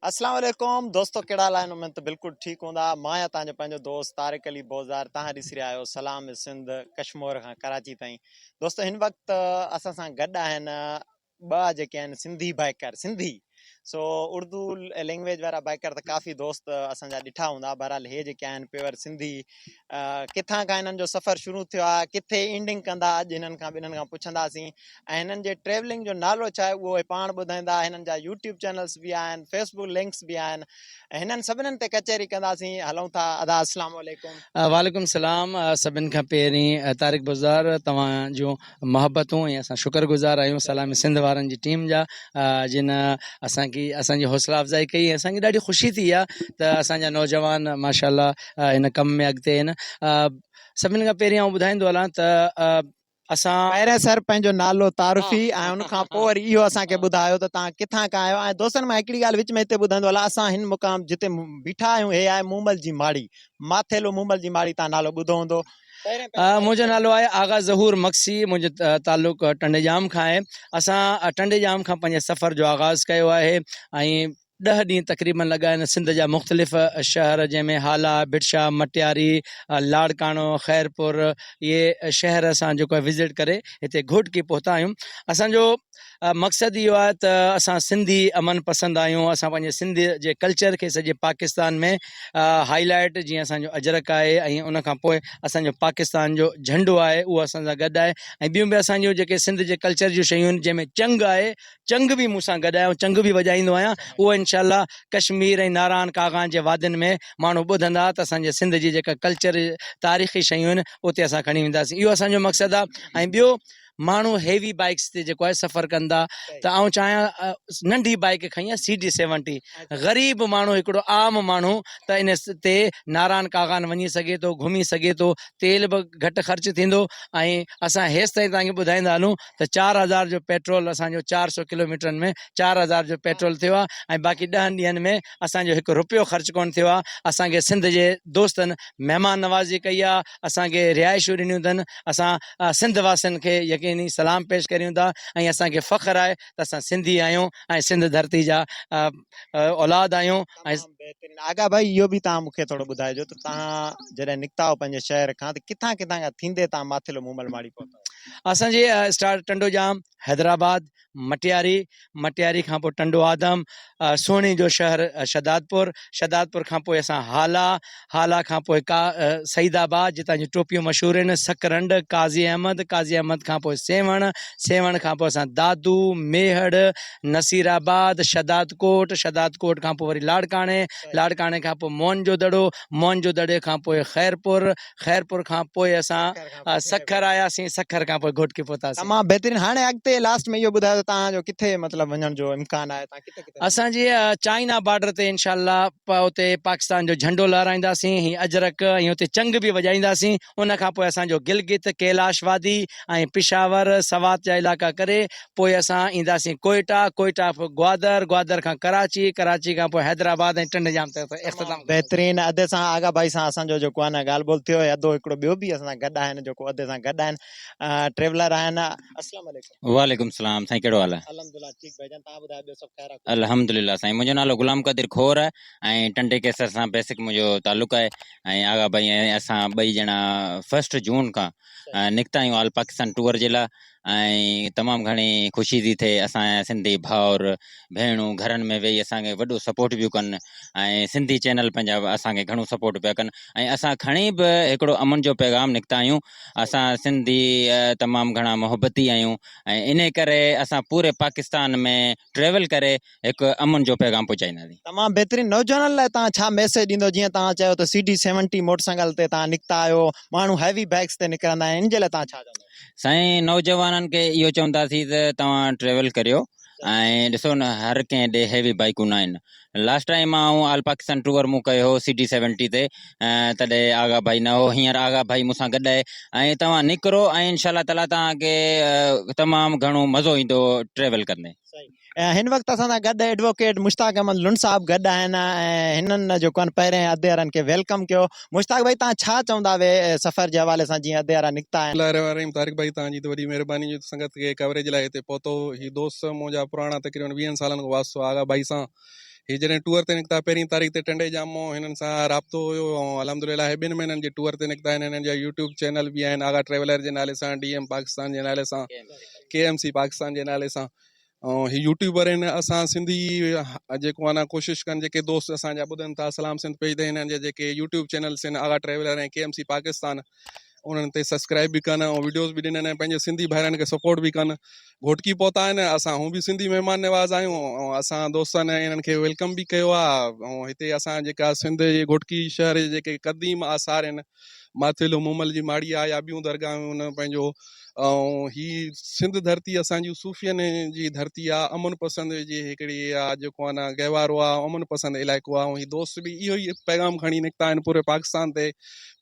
اسلام عليڪم دوستو ڪهڙا حال آهن اميد ته بلڪل ٺيڪ هوندا مان آهيان تهان جو پنهنجو دوست طارق علي بوزار تهان ڏسي رهيا آهيو سلام سنڌ ڪشمور کان ڪراچي تائين دوستو هن وقت اسان سان گڏ آهن ٻه جيڪي آهن سنڌي بائيڪر سنڌي سو اردو لينگويج وارا بائيڪر ته ڪافي دوست اسان جا ڏٺا هوندا بهرحال هي جيڪي آهن پيور سنڌي ڪٿان کان هنن جو سفر شروع ٿيو آهي ڪٿي اينڊنگ ڪندا اڄ هنن کان ٻنهن کان پڇنداسين ۽ هنن جي ٽريولنگ جو نالو ڇا آهي اهو پاڻ ٻڌائيندا هنن جا يوٽيوب چينلز به آهن فيسبوڪ لنڪس به آهن هنن سڀنن تي ڪچهري ڪنداسين هلون ٿا ادا السلام عليڪم وعليڪم السلام سڀن کان پهرين طارق بزدار توهان جو محبتون ۽ اسان شڪر گذار آهيون سلام سنڌ وارن جي ٽيم جا جن اسان کي اسان جي حوصلا افزائي ڪئي ۽ اسان کي ڏاڍي خوشي ٿي آ ته اسان جا نوجوان ماشاءالله ان ڪم ۾ اڳتي آهن سڀني کان پهرين آئون ٻڌائيندو هلان ته اسان پهرين سر پنهنجو نالو تعارفي ۽ ان کان پوء وري اهو اسان کي ٻڌايو ته توهان ڪٿان کان آهيو ۽ دوستن مان هڪڙي ڳالهه وچ ۾ هتي ٻڌائيندو هلان اسان هن مقام جتي بيٺا آهيون هي آهي مومل جي ماڙي ماٿيلو مومل جي ماڙي توهان نالو ٻڌو هوندو منهنجو نالو آهي آغا ظهور مگسي منهنجو تعلق ٽنڊي ڄام کان آهي اسان ٽنڊي ڄام کان پنهنجي سفر جو آغاز ڪيو آهي ۽ ڏهه ڏينهن تقريبن لڳا آهن سنڌ جا مختلف شهر جنهن ۾ هالا، ڀٽشا، مٽياري، لاڙڪاڻو، خيرپور اهي شهر اسان جيڪو آهي وزٽ ڪري هتي گهوٽڪي پهتا آهيون اسان جو مقصد اهو آهي ته اسان سنڌي امن پسند آهيون اسان پنهنجي سنڌ جي ڪلچر کي سڄي پاڪستان ۾ هائي لائيٽ جيئن اسان جو اجرڪ آهي ۽ ان کان پوء اسان جو پاڪستان جو جهنڊو آهي اهو اسان سان گڏ آهي ۽ ٻيون به اسان جون جيڪي سنڌ جي ڪلچر جون شيون آهن جنهن ۾ چنگ آهي چنگ به مون سان گڏ آهي ۽ چنگ به وڄائيندو آهيان اهو انشاء الله ڪشمير ۽ ناران ڪاغان جي وادين ۾ ماڻهو ٻڌندا ته اسان جي سنڌ جي جيڪا ڪلچر تاريخي شيون آهن اتي اسان کڻي وينداسين اهو اسان جو مقصد آهي ۽ ٻيو ماڻهو هيوي بائيڪس تي جيڪو آهي سفر ڪن ٿا ته آئون چاهيان ننڍي بائيڪ کڻي آهي سي ڊي سيونٽي غريب ماڻهو هڪڙو عام ماڻهو ته ان تي ناران ڪاغان وڃي سگهي ٿو گهمي سگهي ٿو تيل به گهٽ خرچ ٿيندو ۽ اسان هيس تائين توهان کي ٻڌائيندا هلون ته چار هزار جو پيٽرول اسان جو چار سو ڪلوميٽرن ۾ چار هزار جو پيٽرول ٿيو آهي ۽ باقي ڏهن ڏينهن ۾ اسان جو هڪ رپيو خرچ ڪونه ٿيو آهي اسان کي سنڌ جي دوستن مهمان نوازي ڪئي آهي اسان کي رهائشون ڏنيون اٿن، اسان سنڌ واسين کي يقيني سلام پيش ڪريون ٿا ۽ اسان کي فخر آهي ته اسان سنڌي آهيون ۽ سنڌ ڌرتي جا اولاد آهيون ۽. تمام بهترين آغا ڀائي اهو به توهان مونکي ٿورو ٻڌائجو ته توهان جڏهن نڪتاهو پنهنجي شهر کان ته ڪٿان ڪٿان کان ٿيندي توهان ماٿيلو مومل ماڙي پهتاهو. اسان جي اسٽارٽ ٽنڊو ڄام حيدرآباد. مٽياري، مٽياري کان پوء ٽنڊو آدم، سهڻي جو شهر شهدادپور، شهدادپور کان پوء اسان هالا، هالا کان پوء ڪا سعيد آباد جتان جون ٽوپيون مشهور آهن، سڪرنڊ، قاضي احمد، قاضي احمد کان پوء سيوهڻ، سيوهڻ کان پوء اسان دادو، ميهڙ، نصير آباد، شهدادڪوٽ، شهدادڪوٽ کان پوء وري لاڙڪاڻي، لاڙڪاڻي کان پوء موهن جو دڙو، موهن جو دڙي کان پوء خيرپور، خيرپور کان پوء اسان سکر آياسين سکر کان پوء گهوٽڪي پهتاسين. تمام بهترين هاڻي اڳتي لاست ۾ اهو ٻڌايو ته توهان جو ڪٿي مطلب وڃڻ جو امڪان آهي توهان ڪٿي ڪٿي. اسان جي چائنا بارڊر تي انشاء الله اتي پاڪستان جو جهنڊو لهرائينداسين هي اجرڪ ۽ اتي چنگ به وڄائينداسين ان کان پوء اسان جو گلگت ڪيلاش وادي ۽ پشاور سوات جا علائقا ڪري پوء اسان اينداسين ڪوئيٽا، ڪوئيٽا کان پوء گوادر، گوادر کان ڪراچي، ڪراچي کان پوء حيدرآباد ۽ ٽنڊ ڄام تي اتي اختتام ڪنداسين. بهترين ادي سان آغا ڀائي سان اسان جو جيڪو آهي نه ڳالهه ٻولهه ٿيو هي ادو هڪڙو ٻيو به اسان سان گڏ آهن جيڪو ادي سان گڏ آهن ٽريولر آهن اسلام عليڪم. وعليڪم سلام سائين ڪهڙو حال آ. الحمدلله ٺيڪ ڀائي جان تهان ٻڌايو ٻيو سڀ خير آ. الحمدلله سائين منهنجو نالو غلام قادر کور آهي ۽ ٽنڊي قيصر سان بيسڪ منهنجو تعلق آهي ۽ آغا ڀائي ۽ اسان ٻئي ڄڻا فرسٽ جون کان نڪتا آهيون آل پاڪستان ٽوئر جي لاء ۽ تمام گهڻي خوشي ٿي ٿئي اسان جا سنڌي ڀائر ڀيڻون گهرن ۾ ويهي اسان کي وڏو سپورٽ پيون ڪن ۽ سنڌي چينل پنهنجا اسان کي گهڻو سپورٽ پيا ڪن ۽ اسان کڻي به هڪڙو امن جو پيغام نڪتا آهيون اسان سنڌي تمام گهڻا محبتي آهيون ۽ انهي ڪري اسان پوري پاڪستان ۾ ٽريول ڪري هڪ امن جو پيغام پهچائينداسين. تمام بهترين نوجوانن لاء توهان ڇا ميسيج ڏيندو جيئن توهان چيو ته C D seventy motorcycle تي توهان نڪتا آهيو ماڻهو هيوي بئڪس تي نڪرندا آهن ان جي لاء توهان ڇا چوندو. سائين نوجوانن کي اهو چونداسين ته توهان ٽريول ڪريو ۽ ڏسو نه هر ڪنهن ڏي هيوي بائيڪون ناهن لاسٽ ٽائيم آئون آل پاڪستان ٽوئر مون ڪيو هو سي ڊي سيونٽي تي تڏهن آغا ڀائي نه هو هينئر آغا ڀائي مون سان گڏ آهي ۽ توهان نڪرو ۽ انشاء الله تعالي توهان کي تمام گهڻو مزو ايندو ٽريول ڪندي. هن وقت اسان سان گڏ ايڊووڪيٽ مشتاق احمد لنڊ صاحب گڏ آهن ۽ هنن جيڪو آهن پهرين اديارن کي ويلڪم ڪيو. مشتاق ڀائي تهان ڇا چوندا وي سفر جي حوالي سان جيئن اديارا نڪتا آهن. بسم الله الرحمن الرحيم طارق ڀائي توهان جي ته وڏي مهرباني جو سنگت کي ڪوريج لاء هتي پهتو هي دوست منهنجا پراڻا تقريبن ويهن سالن کان واسطو آ آغا ڀائي سان هي جڏهن ٽوئر تي نڪتا پهرين تاريخ تي ٽنڊي ڄام مون هنن سان رابطو هيو ۽ الحمدلله هي ٻن مهينن جي ٽوئر تي نڪتا آهن هنن جا يوٽيوب چينل به آهن آغا ٽريولر جي نالي سان ڊي ايم پاڪستان جي نالي سان ڪي ايم سي پاڪستان جي نالي سان ۽ هي يوٽيوبر آهن اسان سنڌي جيڪو آهن ڪوشش ڪن جيڪي دوست اسان جا ٻڌن ٿا سلام سنڌ پيج تي هنن جا جيڪي يوٽيوب چينلس آهن Agha traveller ۽ K M C Pakistan انهن تي سبسڪرائب به ڪن ۽ ويڊيوز به ڏنن ۽ پنهنجي سنڌي ڀائرن کي سپورٽ به ڪن گهوٽڪي پهتا آهن اسان هو به سنڌي مهمان نواز آهيون ۽ اسان دوستن انهن کي ويلڪم به ڪيو آهي ۽ هتي اسان جيڪا سنڌ جي گهوٽڪي شهر جي جيڪي قديم آثار آهن ماٿيلو مومل جي ماڙيء آيا ٻيون درگاهون ان پنهنجو ۽ هي سنڌ ڌرتي اسان جي صوفين جي ڌرتي آ امن پسند جي هڪڙي آ جيڪو انا گهوارو آ امن پسند علائقو آ هي دوست به اهو ئي پيغام کڻي نڪتا آهن پوري پاڪستان تي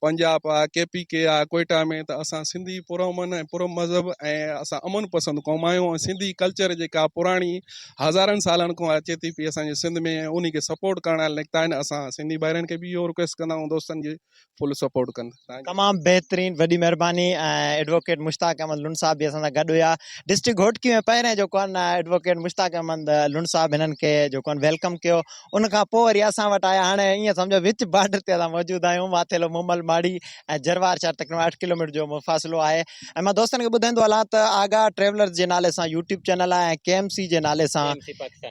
پنجاب آ ڪي پي ڪي آ ڪوئيٽا ۾ ته اسان سنڌي پرامن ۽ پر مذهب ۽ اسان امن پسند قوم آهيون ۽ سنڌي ڪلچر جيڪا پراڻي هزارن سالن کان اچي ٿي پئي اسان جي سنڌ ۾ ۽ انهي کي سپورٽ ڪرڻ لاء نڪتا آهن اسان سنڌي ڀائرن کي به اهو رڪويسٽ ڪندا آهيون دوستن جي فل سپورٽ ڪن تان جي. تمام بهترين وڏي مهرباني ۽ ايڊووڪيٽ مشتاق احمد لنڊ صاحب به اسان سان گڏ هيا ڊسٽرڪٽ گهوٽڪي ۾ پهرين جو ڪون ايڊووڪيٽ مشتاق احمد لنڊ صاحب هنن کي جو ڪون ويلڪم ڪيو ان کان پوء وري اسان وٽ آيا هاڻي ائين سمجهو وچ بارڊر تي اسان موجود آهيون ماٿيلو مومل ماڙي ۽ جروار شهر تقريبن اٺ ڪلوميٽر جو مفاصلو آهي ۽ مان دوستن کي ٻڌائيندو هلان ته آغا ٽريولرز جي نالي سان يوٽيوب چينل آهي ۽ ڪي ايم سي جي نالي سان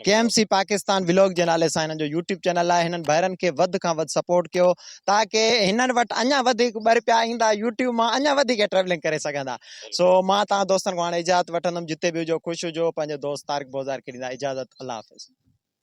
K M C Pakistan vlog جي نالي سان هنن جو يوٽيوب چينل آهي هنن ڀائرن کي وڌ کان وڌ سپورٽ ڪيو تاڪي هنن وٽ اڃا وڌيڪ ٻه رپيا ايندا يوٽيوب مان اڃا وڌيڪ ٽريولنگ ڪري سگهندا سو مان تهان دوستن کان هاڻي اجازت وٺندم جتي به هجو خوش هجو پنهنجو دوست طارق بوزار کي ڏيندا اجازت الله حافظ.